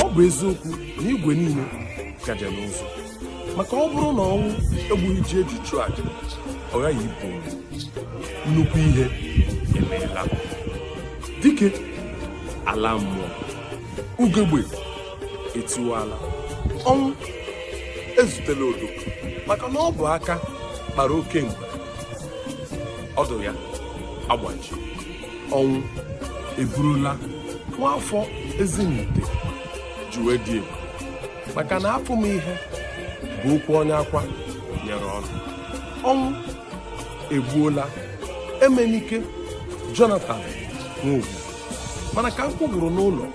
ọ bụ eziokwu na igwe niile gaje n'ụzụ maka ọ bụrụ na ọnwụ egbughị ji eji chụọ aja ọ ghaghị ipu ome. nnukwu ihe emeela dike alaa mmụọ ugegbe etiwala ọnwụ ezutela odo maka na ọ bụ aka kpara oke mgbe ọdụ ya agbaji ọnwụ eburula nwaafọ ezinihite ji wee dị egwu maka na afụ m ihe bụ okwu onye akwa nyere ọnụ ọnwụ egbuola emenike jonathan nwogu mana ka nkụ gwụrụ n'ụlọ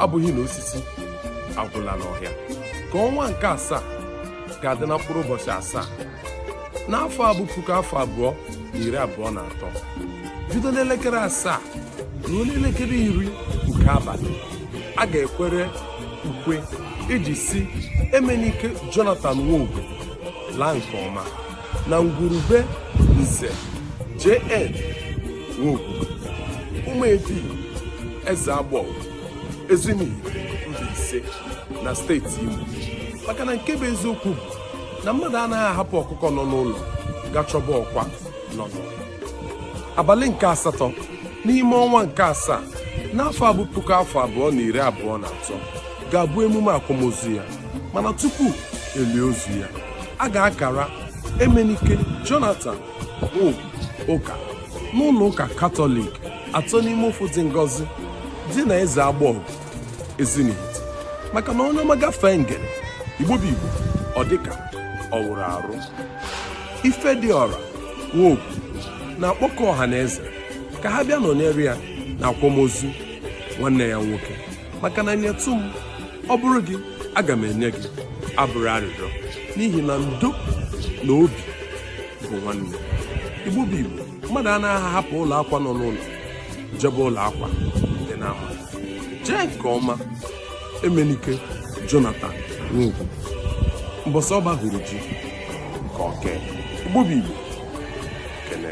abụghị na osisi agwụla n'ọhịa ka ọnwa nke asaa ga-adị na mkpụrụ ụbọchị asaa n'afọ a bụ puku afọ abụọ na iri abụọ na atọ bido n'elekere asaa ruo n'elekere iri nke abalị a ga-ekwere ukwe iji sị emenike jonathan nwogu laa nke ọma na ngwurube nze JN Nwogu ụmụedi Eziagbọgụ Ezinihite Mbaise na steeti Imo maka na nke bụ eziokwu bụ na mmadụ anaghị ahapụ ọkụkọ nọ n'ụlọ ga chọba ọkwa nọ n'ụlọ abalị nke asatọ n'ime ọnwa nke asaa n'afọ a bụ puku afọ abụọ na iri abụọ na atọ ga-abụ emume akwamozu ya mana tupu elie ozu ya a ga-akara Emenike Jonathan Nwogu ụka n'ụlọ ụka Katọlik atọ n'ime ofu dị ngọzi dị na Eziagbọgụ Ezinihite maka na onye ọma gafee ngere Igbo bụ Igbo ọ dịka ọ wụrụ arụ Ifediọra Nwogu na-akpọkọ ọha na eze ka ha bịa nọnyere ya na akwamozu nwanne ya nwoke maka na nyetụ m ọ bụrụ gị aga m enye gị abụrọ arịrịọ n'ihi na ndo na obi bụ nwanne igbo bụ igbo mmadụ anaghị ahapụ ụlọ akwa nọ n'ụlọ jebe ụlọ akwa dị n'ama jee nke ọma emenike jonathan nwogu mbọsị ọba hụrụ ji nke oke igbo bụ igbo kene